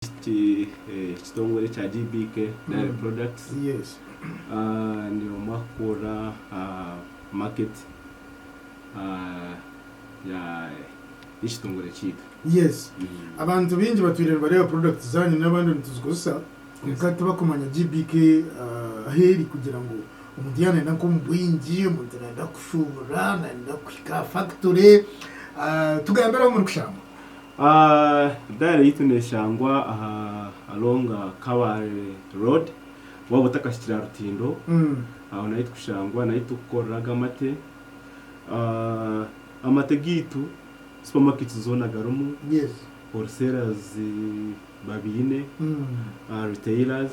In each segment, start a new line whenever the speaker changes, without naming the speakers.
Eki kitongore ekya GBK Dairy Products ni omwe ahakukurira aha market y'ekitongore kyaitu. Yes
abantu baingi batwire nibareeba products zanyu n'abandi nituzikozesa kwonka tibakumanya GBK ahu eri kugira ngu omuntu yaaba nayenda nk'omu bwingi, omuntu nayenda kushuubura, nayenda kuhika aha factory tugambireho omuri Kushambwa.
Diary yaitu neshangwa aha along kabale road waba otakahikire aha rutindo aho nahi tukushangwa nahi tukukorera ago amate amate gaitu supermarkets zona garimu
wholesalers
babiine retailers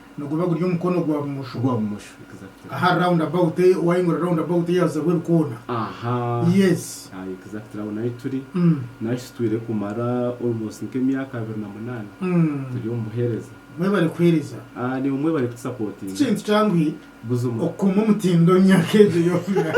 Niguba guri omukono gwa bumosho. Ogwa bumosho exactly. Aha
round about
eyo wayingura round about eyo hazaho ebikoona. Ahaa. Yes. Aye exactly aho
nahi turi. Nahi sitwire kumara almost nka emyaka abiri na munana turi omu buhereza. Mwebare kuhereza.
Ahaa niwe mwebare
kutusapotinga. Tikintu kyanguhi
Buzima. Okukuma
omutindo omu
myaka egyo yoona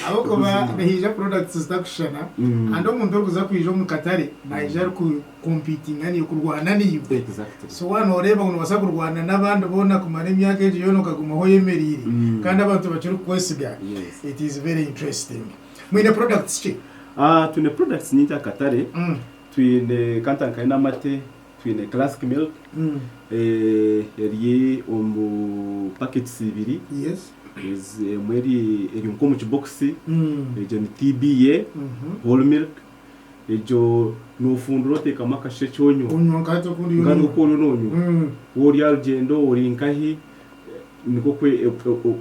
ahabw'okuba Buzima. nihaija products zitakushushana Mm. kandi omuntu orikuza kwija omu katare naija arikukompitinga naiwe, kurwana naiwe. Exactly. So waaba
nooreeba ngu
noobaasa kurwana n'abandi boona kumara emyaka egyo yoona okagumaho oyemereire Mm. kandi abantu bakirikukwesiga, Yes. it is very interesting. Mwine products ki? Ah, twine products
nyingi aha katare. Mm. Twine kanta nkayo n'amate, Twine classic milk eri omu packets ibiri,
emwe
eri nka omu kibokisi, egyo ni TBA, whole milk, egyo nofundura otekamu akashekye onywa nkahi
oku oriyo nonywa,
waaba ori aha rugyendo, ori nkahi, nikwo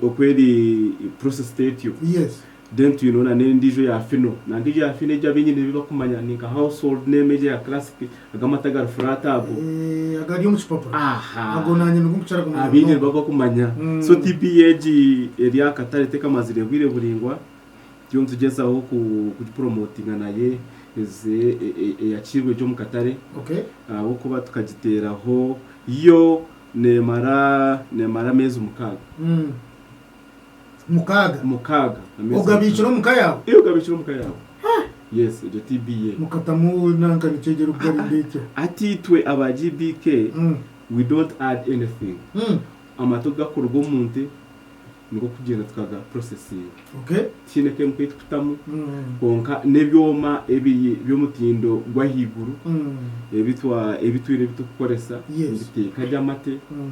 oku eri processed etyo. Then
twineho na
nendijo ya fino nanka egyo ya fino egyo abenyine ebi bakumanya ni nka household name egyo ya classic ago amata agari flat ago. Eeh agari omu
kipapura Aha ago nanye nigo nkukira kumanya abenyine nibo munonga bakumanya
so Umm. TB egi eri aha katare tekamazire bwire buringwa turiyo nitugyezaho ku ku promotinga nayo eze eyakiirwe gye omu katare Okay. ahabw'okuba tukagiteraho yo nemara nemara ameezi mukaaga. Umm. mukaaga mukaaga amezi ogabiikire
omu ka yaawe mukaaga. Eh, ogabiikire omu ka yaawe
yes egyo TB ye mukatamu nanka
nikyegyera okugari ndeitya hati itwe aba
GBK Mm, we don't add anything mm, amata obu gakuruga omu nte nikwo kugyenda tukaga processinga okay tihaine chemical ei tukutamu Mm, kwonka n'ebyoma ebiri by'omutindo gw'ahaiguru mm, ebi twa ebi twine ebi turikukoresa Yes. nibiteeka gye amate mm.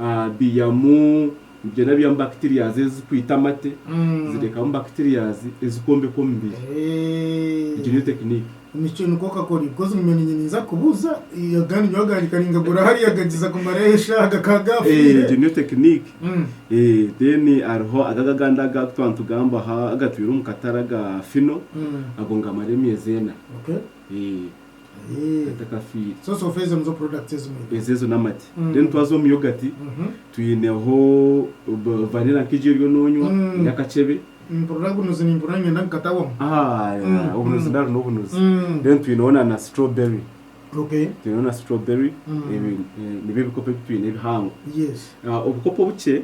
ah, biiyamu Nibyera aby'amu bacterias ezikwita amate zirekamu bacterias ezikombeka omubiri. Egyo niyo tekiniki. Nikyo nikwo kakori
because niinyowe niinye ninza kubuuza agandi nyowe agandi karingagura hariya gagiza kumarayo eshaaha gakaba gafiire. Egyo niyo tekiniki.
Then hariho aga agandi aga twaba nitugambaho agatwire omu katare aga fino ago nigamara emyezi ena. atakafiire.
Ezo ezo n'amate.
Then twaza omu yogurt twineho vanilla nka egi oriyo nonywa ey'akacebe.
Obunuzi
nari n'obunuzi. Then twineho na strawberry. Twineho na strawberry. Nibyo ebikopo ebi twine ebihango. Obukopo obukye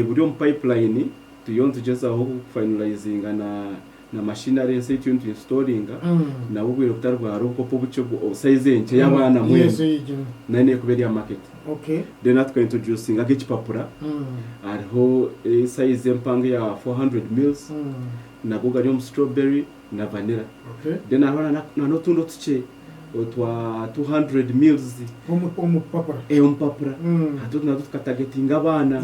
buri omu pipeline turiyo nitugyezaho ku finalizinga na na machine ari ensi ekyo nitu instalinga nabwo obwire butari bwa hariho obukopo obukye obwo o size enkye ya bana mwena nayo nekuba eri aha market then atuka introducinga nka ekipapura hariho size empanga eya 400 mills nago gari omu strawberry na vanilla then hariho na notundi otukye otwa 200 mills omu papura omu papura hati otu natwo tuka targetinga abana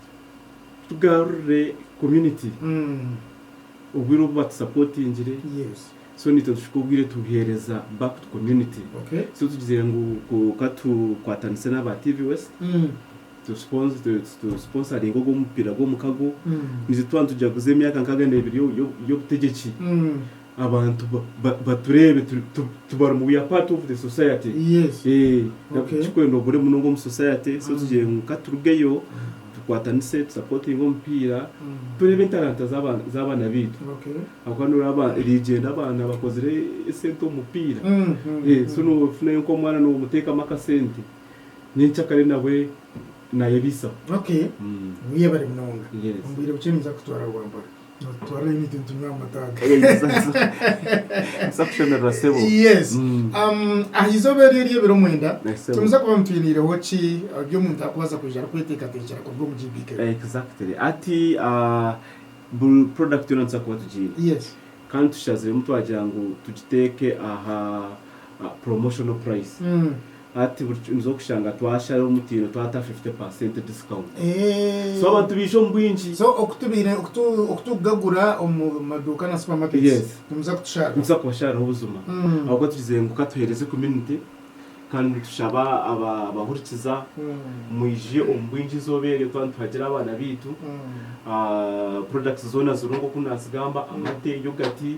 Tugarurire community obwire obu batusapotingire so naitwe tushuke obwire tubuhereza back to community so tugizire ngu ka tukwatanise naba TV West tu sponsoringe ogu omupira gwomukago naitwe tuba nitujaguza emyaka nkaga nebiri yobutegyeki Abantu batureebe tubarimu we are part of the society ekikwenda obure munonga omu society so tugire ngu katurugeyo tukwatanise tu supportinge omupiira tureebe entaranta z'abaana baitu ahabw'okuba nooreeba erigyenda abaana bakozire esente omu mupiira so noofunayo nk'omwana noomuteekamu akasente nyenkyakare nawe nayebaisaho. Okay, weyebare munonga omu bwire bukye ninza kukutwara Rwampara. Nitutwara Heineken nitunywa aha mata aga. Nitubaasa kushemererwa sebo. Yes. Um, aha izooba
eryo ery'ebiro mwenda, Yes, sebo. tiniza kuba nitwiniireho ki uh, bi omuntu arikubaasa kwija arikweteekateekyera kuruga omu GBK. Exactly. Hati
ah, buri product yoona nituza kuba tugiine. Yes. Kandi tushaziremu twagira ngu tugiteeke aha promotional price hati buri kiti nizo kushanga twashara omutindo twata 50% discount so abantu baija omu bwingi so okutubire
okutu okutugagura omu maduuka na supermarkets Yes. nimuza kutushara nituza kubashariraho
buzima ahabw'okuba tugize ngu katuhereze community kandi nitushaba aba abahurikiza mwije omu bwingi izooba eryo tuba nituhagira abaana baitu ah products zoona ziriho nk'oku nazigamba amate, yogati,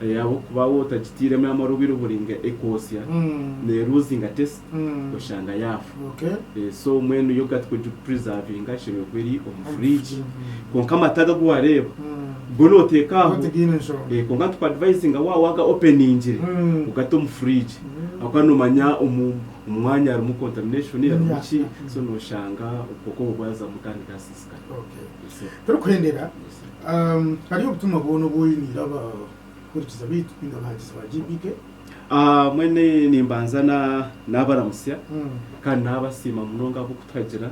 Ahabw'okuba waaba otagitairemu amaru obwire oburinga ekoosya, neeruuzinga test, oshanga yaafa. So mbwenu yoghurt ku orikugipurizaavinga eshemereire kuba eri omu furiigi. Kwonka amata aga agu waareeba, go nooteeka aho. Kwonka nitukuadivayizinga waaba waaga openingire, ogate omu furiigi ahabw'okuba noomanya omu mwanya harimu contamination harimu ki, so nooshanga obukooko obwo bwazamu kandi gaasiisa.
Turikuhendera ahari obutumwa bwoona obu oiniire abahurikiza baitu nainga abahangizi ba GBK. Mbwenu
nimbanza nabaramutsya kandi nabasiima munonga ahabw'okuturagira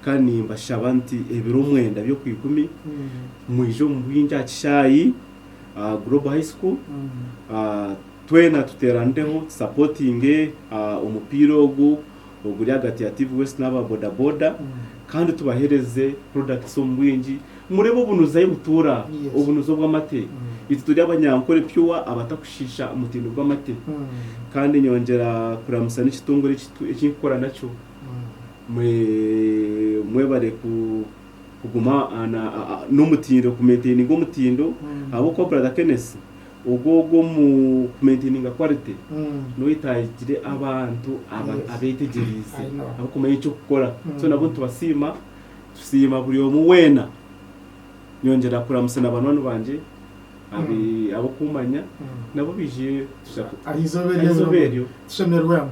kandi nimbashaba nti ebiro omwenda by'okwiikumi mwije omu bwingi aha kishaayi Global High School twena tuteeranireho tusapotinge omupiira ogu. oguri ahagati ya TV West n'aba bodaboda kandi tubahereze products omu bwingi murebe obunuzi ahi butuura, obunuzi obw'amate itwe turi abanyankore pure abatakushiisha omutindo gw'amate kandi nyongyera kuramusa n'ekitongore ekitu eki nkukora nakyo mwe mwebare ku kuguma n'omutindo ku maintaininga omutindo ahabw'okuba brother Kenneth Ogwo ogwo omu ku maintaininga quality noyetagire abantu abetegyereize abakumanya ekyokukora so nabo nitubasiima tusiima buri omwe weena nyongyera kuramutsa na banywani bangye abokumanya nabo baije aha izooba
eryo tushemerwemu.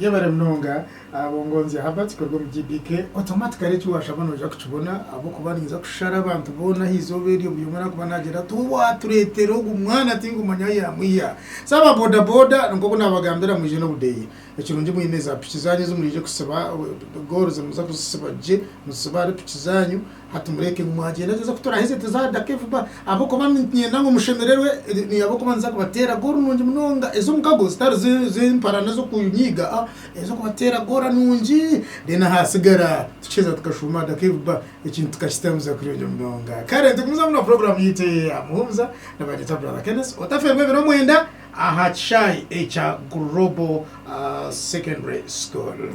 Yebare munonga
Bongonzya Herbert kuruga omu GBK. Automatically eki washaba noija kukibona ahabw'okuba ninza kushara abantu boona aha izooba eryo buri omwe araakuba naagyenda ati, Owaatureetere ogu mwana tinkumanya ahu yaamwiha. So aba bodaboda nk'oku naabagambira mwije n'obudeeya. Ekirungi mwine zaapiki zaanyu ezi muraije kusiba, gooro zi nimuza kuzisiba gye, muzisibe ahari piki zaanyu Hati mureke ngu mwagyenda twija kuturaheze tuzadake vuba ahabw'okuba niinyenda ngu mushemererwe ahabw'okuba niza kubateera goolu nungi munonga ez'omukago zitari z'empara n'ez'okunyiiga a niza kubateera goora nungi reero ahaatsigara tukiheeza tukashuuma adake vuba ekintu tukakitambisa kurungi munonga. Kare nitugumizamu na puroguraamu yaitu eya Muhumuza na Banyita Brother Kenneth otafeerwa ebiro mwenda aha kishaayi ekya Global Secondary School.